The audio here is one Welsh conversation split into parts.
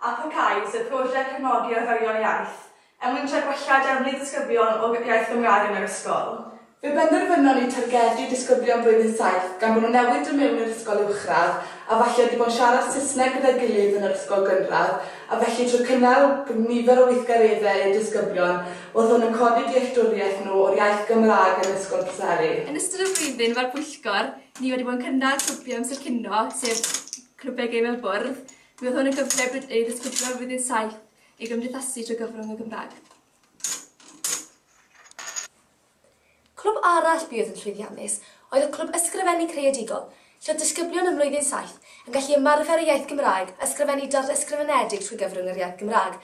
a pharhau sef prosiect cefnogi arferion iaith, er mwyn trio gwella defnydd disgyblion o iaith Gymraeg yn yr ysgol. Fe benderfynon ni targedu disgyblion blwyddyn saith gan bod nhw newydd dod mewn i'r ysgol uwchradd a falle wedi bod yn siarad Saesneg gyda'i gilydd yn yr ysgol gynradd a felly trwy cynnal nifer o weithgareddau i'r disgyblion oedd hwn yn codi dealltwriaeth nhw o'r iaith Gymraeg yn Ysgol Preseli. Yn ystod y flwyddyn mae'r pwyllgor ni wedi bod yn cynnal clwbiau amser cinio sef clwbiau gêm ar y bwrdd Bydd hwn yn gyfle bryd eu disgyblion o Fudiad 7 i gymdeithasu trwy gyfrwng y Gymraeg. Clwb arall buodd yn llwyddiannus oedd y Clwb Ysgrifennu Creadigol, lle oedd disgyblion ym Mlwyddyn 7 yn gallu ymarfer y iaith Gymraeg a ysgrifennu darn ysgrifenedig trwy gyfrwng yr iaith Gymraeg.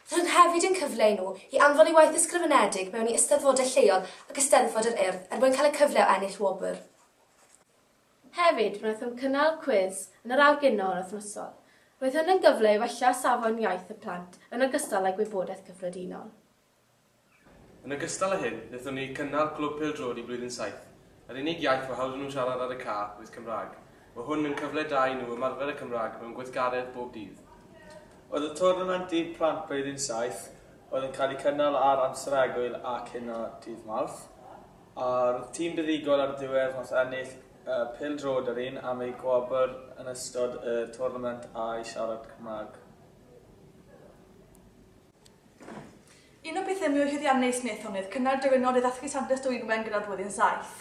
Roedd hwn hefyd yn cyfle i nhw i anfon eu waith ysgrifenedig mewn i eisteddfodau lleol ac Eisteddfod yr Urdd er mwyn cael y cyfle o ennill wobr. Hefyd, wnaethom cynnal cwis yn yr awr gynol wythnosol. Roedd hyn yn gyfle i wella safon iaith y plant yn ogystal â gwybodaeth cyffredinol. Yn ogystal â hyn, wnaethon ni gynnal Clwb Pêl-droed i Blwyddyn Saith. Yr unig iaith fo hawdd i nhw siarad ar y ca oedd Cymraeg. Mae hwn yn cyfle da i nhw ymarfer y Cymraeg mewn gweithgaredd bob dydd. Oedd y twrnament i plant Blwyddyn Saith oedd yn cael ei cynnal ar amser egwyl ac yna dydd Mawrth. A'r tîm buddugol ar ddiwedd wnaeth ennill y pêl droed yr un am eu gwobr yn ystod y twrnament a'i siarad Cymraeg. Un o bethau mwy llwyddiannus wnaethon oedd cynnal diwrnod i ddathlu Santes Dwynwen gyda'r Blwyddyn Saith.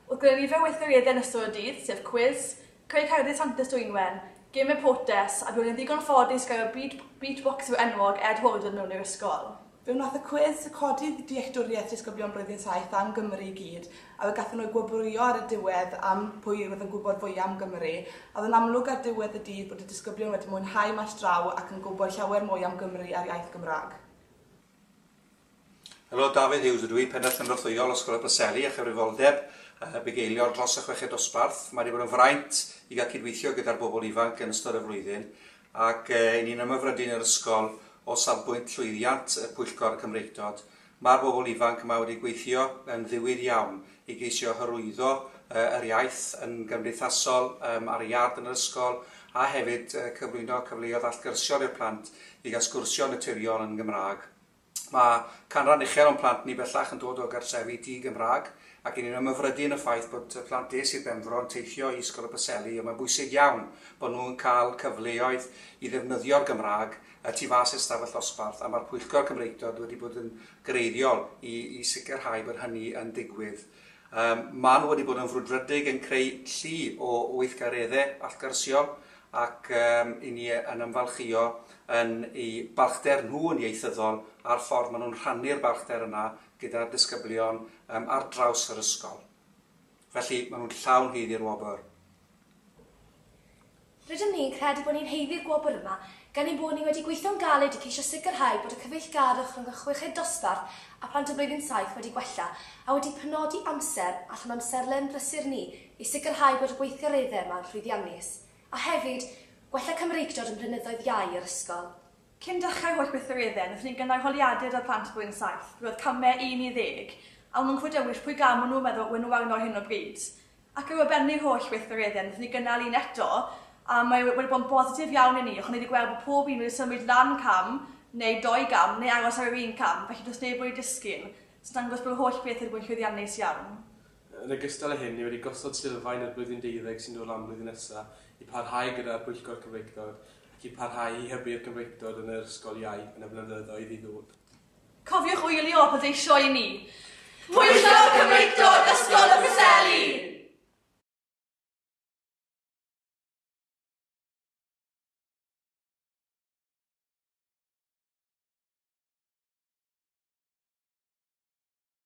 Wrth gynnal nifer o weithgareddau yn ystod y dydd, sef cwiz, creu cerddi Santes Dwynwen, gemau potes, a roedd yn ddigon ffodus gael y beatboxer enwog Ed Holden mewn i'r ysgol. Fe wnaeth y cwis codi dealltwriaeth disgyblion Blwyddyn Saith am Gymru i gyd, a fe gaethon nhw eu gwobrwyo ar y diwedd am pwy oedd yn gwybod fwya am Gymru. A oedd yn amlwg ar ddiwedd y dydd bod y disgyblion wedi mwynhau maes draw ac yn gwybod llawer mwy am Gymru a'r iaith Gymraeg. Helo, Dafydd Hughes ydw i, Pennaeth Cynorthwyol Ysgol y Preseli a chyfrifoldeb y bugeiliol dros y chweched dosbarth. Mae wedi bod yn fraint i gael cydweithio gyda'r bobl ifanc yn ystod y flwyddyn ac y'n ni'n ymhyfrydu yn yr ysgol o safbwynt llwyddiant y Pwyllgor Cymreictod. Mae'r bobl ifanc yma wedi gweithio yn ddiwyd iawn i geisio hyrwyddo yr iaith yn gymdeithasol, ar y iard yn yr ysgol, a hefyd cyflwyno cyfleoedd allgyrsiol i'r plant i gael sgwrsio yn naturiol yn Gymraeg. Mae canran uchel o'n plant ni bellach yn dod o gartrefi di-Gymraeg ac 'y ni'n ymhyfrydu yn y ffaith bod y plant des i'r Benfro yn teithio i Ysgol y Preseli ond mae'n bwysig iawn bod nhw yn cael cyfleoedd i ddefnyddio'r Gymraeg y tu fas i'r stafell ddosbarth a mae'r Pwyllgor Cymreictod wedi bod yn greiddiol i sicrhau bod hynny yn digwydd Maen nhw wedi bod yn frwdfrydig yn creu llu o weithgareddau allgyrsiol ac i ni yn ymfalchïo yn eu balchder nhw yn ieithyddol a'r ffordd maen nhw'n rhannu'r balchder yna gyda'r disgyblion ar draws yr ysgol. Felly, maen nhw'n llawn haeddu'r wobr. Rydym ni'n credu bod ni'n haeddu'r gwobr yma gan ein bod ni wedi gweithio'n galed i ceisio sicrhau bod y cyfeillgarwch rhwng y chweched dosbarth a phlant o Blwyddyn Saith wedi gwella a wedi penodi amser allan o amserlen brysur ni i sicrhau bod y gweithgareddau yma'n llwyddiannus a hefyd gwella Cymreictod ym mhlynyddoedd iau yr ysgol. Cyn dechrau'r holl weithgareddau, wnaethon ni gynnal holiadur 'da'r plant o Blwyddyn Saith. Roedd camau un i ddeg, a maen nhw'n clywed dewis pwy gam maen nhw'n meddwl yw enwog yno ar hyn o bryd. Ac ar ôl bennu'r holl weithgareddau, wnaethon ni gynnal un eto, a mae wedi bod yn bositif iawn i ni, achos ni wedi gweld bod pob un wedi symud lan cam, neu dou gam, neu aros ar yr un cam, felly does neb wedi disgyn, sy'n dangos bod yr holl beth wedi bod yn llwyddiannus iawn. Yn ogystal â hyn, ni wedi gosod sylfaen i'r blwyddyn deuddeg sy'n dod lan blwyddyn nesa, i parhau gyda'r Pwyllgor Cymreictod, ac i parhau i hybu'r Gymreictod yn yr ysgol iau yn y blynyddoedd i ddod. Cofiwch wylio a pleidleisio i ni! Pwyllo Cymreictod Ysgol y Preseli!